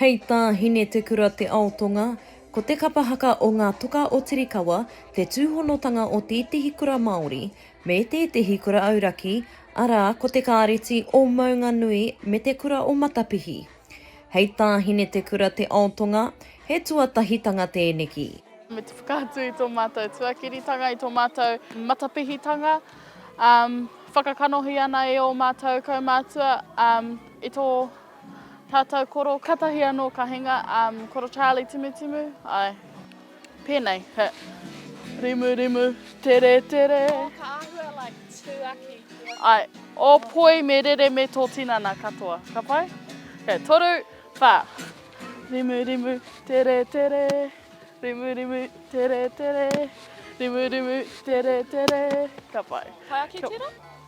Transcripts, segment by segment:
Hei tā Hine Te Kura Te Aotonga, ko te kapa haka o Ngā Toka o Tirikawa te tūhonotanga o tētehi kura Māori me tētehi kura auraki, arā, ko te Kāreti o Maunganui me te Kura o Matapihi. Hei tā Hine Te Kura Te Aotonga, he tuatahitanga tēneki. Me te whakaatu i tō mātou tuakiritanga, i tō mātou matapihitanga, whakakanohi ana e ō mātou kaumātua, i tō. Tātou koro katahi anō ka hinga, um, koro Charlie Timutimu, ai, pēnei, he rimu rimu, tere tere. Oh, ka ahua like tū aki. Ai, o poi me rere me tō tinana katoa, ka pai? Okay, toru, whā. Rimu rimu, tere tere, rimu rimu, tere tere, rimu rimu, tere tere, ka pai. Pai ake tērā?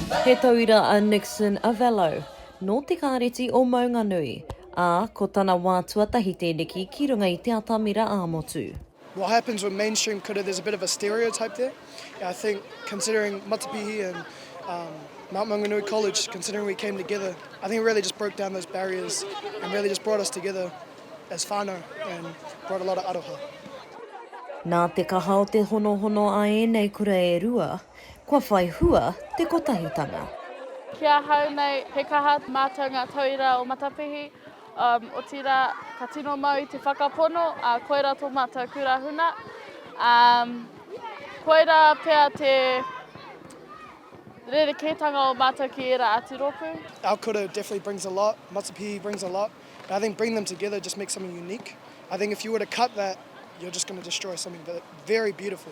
He tauira a Nixon Avello, nō te Kāreti o Maunganui, ā, ko tana wā tuatahi tēneki ki runga i te atamira ā-motu. What happens with mainstream kura there's a bit of a stereotype there and I think considering Matapihi and um Mount Maunganui College considering we came together I think it really just broke down those barriers and really just brought us together as whānau and brought a lot of aroha. Nā te kaha o te honohono a ēnei kura e rua, Kua whai hua te kotahitanga. Ki ahau nei, he kaha mātou ngā tauira o Matapihi, otirā, ka tino mau i te whakapono, ā, koirā tō mātou kura huna. Ā, koirā pea te rerekētanga o mātou ki ērā atu rōpū. Our kura definitely brings a lot, Matapihi brings a lot, and I think bringing them together just makes something unique. I think if you were to cut that, you're just going to destroy something very beautiful.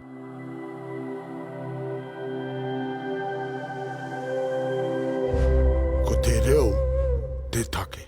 Ko te reo te take.